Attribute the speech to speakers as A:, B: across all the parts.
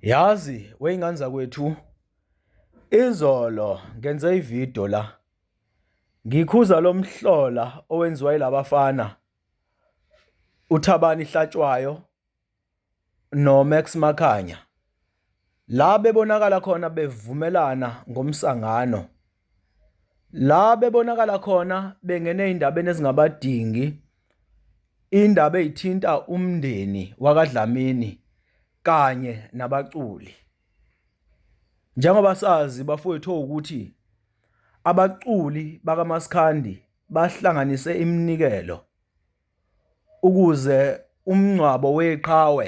A: Yazi weyingane zakwethu izolo ngenze ivideo la ngikhuza lomhlola owenziwa ilabafana uThabani Hlatshwayo noMax Makhanya la bebonakala khona bevumelana ngomsangano La bebonakala khona bengene ey'ndabeni ezingabadingi, iy'ndaba ey'thinta umndeni wakaDlamini kanye nabaculi. Njengoba sazi bafowethu ukuthi abaculi bakamaskandi bahlanganise iminikelo ukuze umngcwabo weqhawe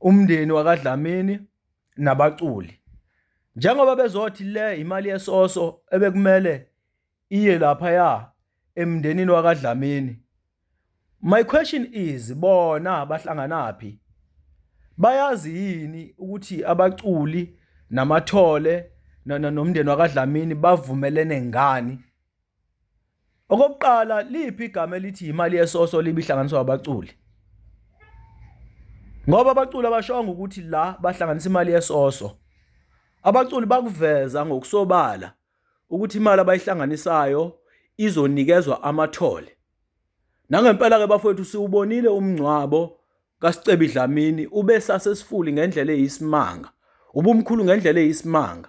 A: umndeni wakaDlamini nabaculi njengoba bezothi le imali yesoso ebekumele iye lapha ya emndenini wakaDlamini my question is bona bahlanganaphi bayazi yini ukuthi abaculi namathole nomndeni wakaDlamini bavumelene ngani Okokuqala liphi igama elithi imali yesoso libihlanganiswa abaculi? Ngoba abaculi abashongo ukuthi la bahlanganisa imali yesoso. Abaculi bakuveza ngokusobala ukuthi imali abayihlanganisayo izonikezwa amathole. Nangempela ke bafowethu siwubonile umngcwabo kaSicebi Dlamini ubesasesifuli ngendlela eyisimanga. Ubumkhulu ngendlela eyisimanga.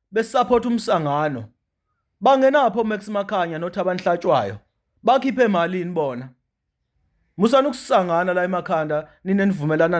A: besupport umsangano bangenapho Max Makhanya noThabani Hlatshwayo bakhiphe malini bona musani ukusangana la emakhanda nine nivumelana